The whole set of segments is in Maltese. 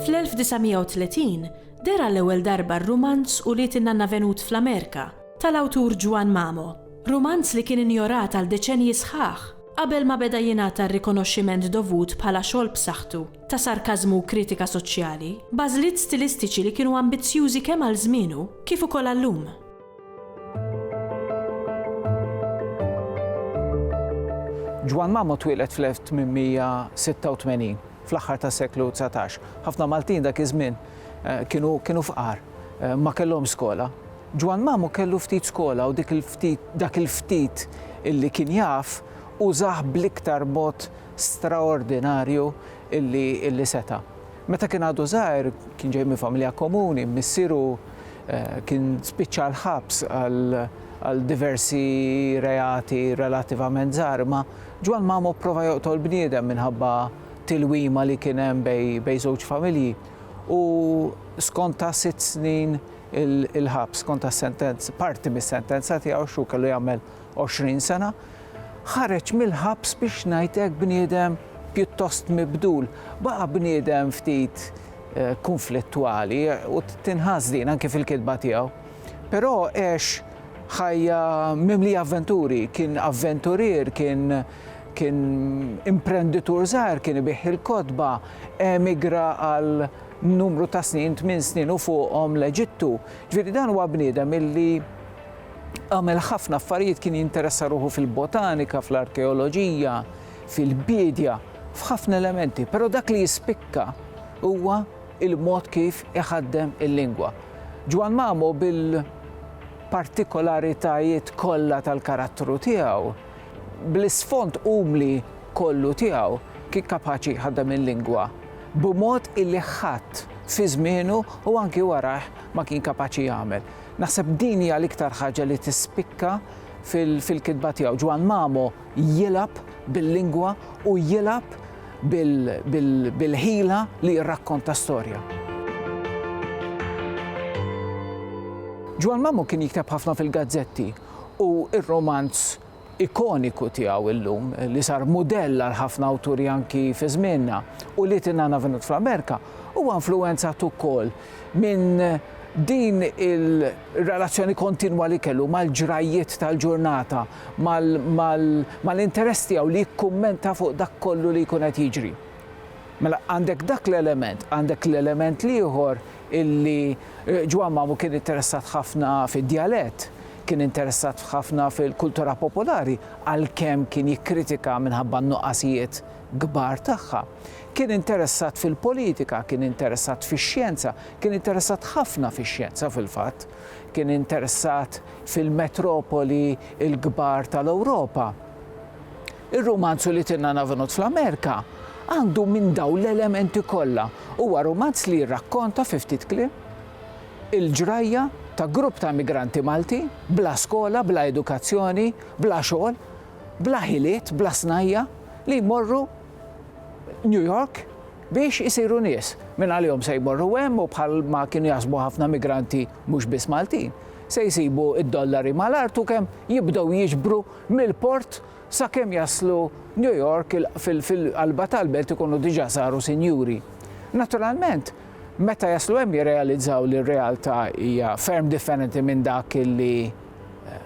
Fl-1930 deher għall-ewwel darba r-rumanz Ulied in-Nanna Venut fl-Amerika tal-awtur Juan Mamo, rumanz li kien injorat għal deċennji sħaħ qabel ma beda jingħata r-rikonoxximent dovut bħala xogħol b'saħħtu. ta' sarkażmu u kritika soċjali, b'għażliet stilistiċi li kienu ambizzjużi kemm għal żmienu kif ukoll għal-lum. Ġwann Mamo twieled fl-1886, fl-aħħar tas-seklu dsatax. Ħafna Maltin dak iż-żmien eh, kienu kienu fqar, eh, ma kellhomx skola. Ġwann Mamo kellu ftit skola u dik il-ftit dak il-ftit illi kien jaf użah bl-iktar mod straordinarju illi seta'. Meta kien għadu żgħir, kien ġej minn familja komuni, missieru kien spiċċa l-ħabs għal diversi reati relativament żgħar, imma Ġwann Mamo pprova joqtol bniedem minħabba tilwima li kien hemm bejn żewġ familji u skonta sitt snin il-ħabs, skonta parti mis-sentenza tiegħu x'hu kellu jagħmel. 20 sena, ħareġ mill-ħabs biex ngħid hekk bniedem pjuttost mibdul. Baqa' bniedem ftit eh, kunflittwali u tinħass din anke fil-kitba tiegħu. Però għex ħajja mimli avventuri, kien avventurier, kien kien imprenditur żgħar, kien ibih il-kotba, emigra għal numru ta' snin, minn snin u fuqhom l-Eġittu. Ġifieri dan huwa bniedem illi Għamel ħafna affarijiet, kien jinteressa ruħu fil-botanika, fl-arkeoloġija, fil-biedja, f'ħafna elementi, però dak li jispikka huwa il-mod kif iħaddem il-lingwa. Ġwann Mamo bil partikolaritajiet kollha tal-karattru tiegħu, bl-isfond umli kollu tiegħu, kien kapaċi jħaddem il-lingwa b'mod illi ħadd fi żmienu u anki warajh ma kien kapaċi jagħmel. Naħseb din hija l-iktar ħaġa li tispikka fil-kitba tiegħu. Ġwann Mamo jilgħab bil-lingwa u jilgħab bil-ħila li jirrakkonta storja. Ġwann Mamo kien jikteb ħafna fil-gazzetti u r-rumanz ikoniku tiegħu illum, li sar mudell għal ħafna awturi anki fi żmienna, u li tingħana venut fl-Amerika, huwa influwenzat ukoll minn din il-relazzjoni kontinwa li kellu mal-ġrajjiet tal-ġurnata, mal-interess tiegħu li jikkummenta fuq dak kollu li jkun qed jiġri. Mela għandek dak l-element, għandek l-element l-ieħor illi Ġwann Mamu kien interessat ħafna fid-djalett, kien interessat ħafna fil-kultura popolari għalkemm kien jikkritika minħabba n-nuqqasijiet kbar tagħha. Kien interessat fil-politika, kien interessat fix-xjenza, kien interessat ħafna fix-xjenza fil-fatt, kien interessat fil-metropoli l-kbar tal-Ewropa. Ir-rumanz U li tinna navenut fl-Amerika għandu minn dawn l-elementi kollha. Huwa rumanz li jirrakkonta fi ftit kliem il-ġrajja ta' grupp ta' immigranti Malti bla skola, bla edukazzjoni, bla xogħol, bla ħiliet, bla snajja' li jmorru New York biex isiru nies. Mingħalihom se jmorru hemm u bħal ma kienu jaħsbu ħafna immigranti mhux biss Maltin, se jsibu d-dollari mal-art u kemm jibdew jiġbru mill-port Sakemm jaslu New York fil-qalba tal-belt ikunu diġà saru sinjuri. Naturalment, meta jaslu hemm jirrealizzaw li r-realtà hija ferm differenti minn dak li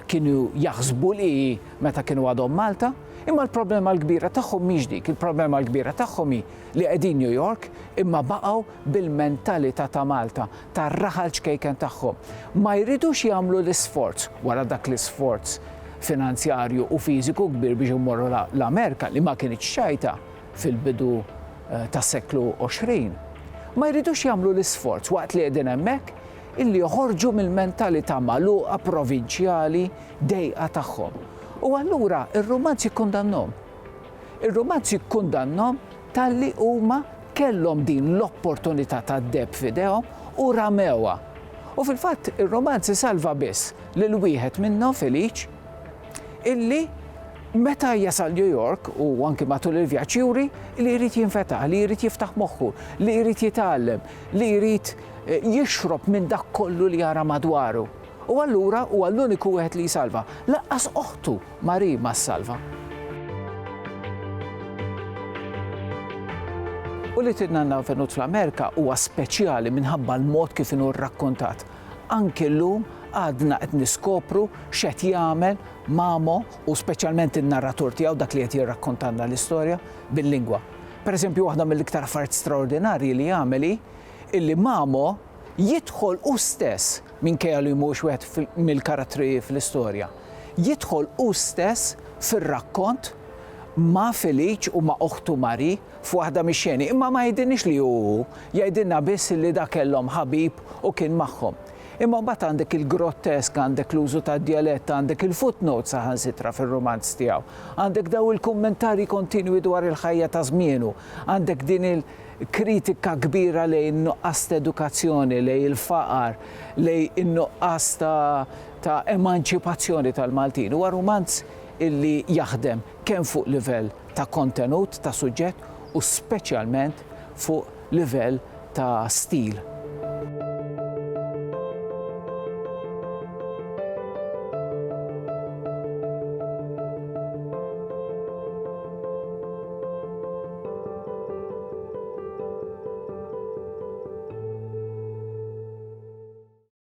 kienu jaħsbu li hi meta kienu għadhom Malta. Imma l-problema l-kbira tagħhom mhix dik, il-problema l-kbira tagħhom hi li qegħdin New York imma baqgħu bil-mentalità ta' Malta, tar-raħal ċkejken tagħhom. Ma jridux jagħmlu l-isforz, wara dak l-isforz finanzjarju u fiżiku kbir biex imorru l-Amerika li ma kinitx xajta fil-bidu eh, tas-seklu 20. Ma jridux jagħmlu l-isforz waqt li qegħdin hemmhekk illi joħorġu mill-mentalità magħluqa provinċjali dejqa tagħhom. U allura ir-rumanz jikkundannom. Ir-rumanz jikkundannom Talli huma kellhom din l-opportunità tad-deheb f'idejhom u ramewha. U fil-fatt ir-romanz isalva biss lil wieħed minnhom, Felice, illi meta jasal New York u anki matul il-vjaġġ juri li jrid jinfetaħ, li jrid jiftaħ moħħu, li jrid jitgħallem, li jrid jixrob minn dak kollu li jara madwaru. U allura huwa l-uniku wieħed li jsalva. Lanqas oħtu! Marie ma ssalva. U li tidna n avvenut fl-Amerika huwa speċjali minħabba l-mod kif inhu rrakkontat. Anki llum għadna qed niskopru x'qed jagħmel Mamo u speċjalment in-narratur tiegħu dak li qed jirrakkontalna l-istorja bil-lingwa. Pereżempju waħda mill-iktar affarijiet straordinarji li jagħmel hi illi Mamo jidħol hu stess minkejja li mhuwiex wieħed mill-karattri fl-istorja. jidħol hu stess fir-rakkont ma' Felice u ma' oħtu Marie f'waħda mix-xeni, imma ma jgħidilniex li hu hu, jgħidilna biss li da kellhom ħabib u kien magħhom. Imma mbagħad għandek il-grottesk, għandek l-użu tad-djalett, għandek il-footnotes saħansitra fir-rumanz tiegħu, għandek dawn il-kummentarji kontinwi dwar il-ħajja ta' żmienu, għandek din il-kritika kbira lejn in-nuqqas t'edukazzjoni, lejn il-faqar, lejn in-nuqqas ta' ta' emanċipazzjoni tal-Maltin. Huwa rumanz illi jaħdem kemm fuq livell ta' kontenut, ta' suġġett u speċjalment fuq livell ta' stil.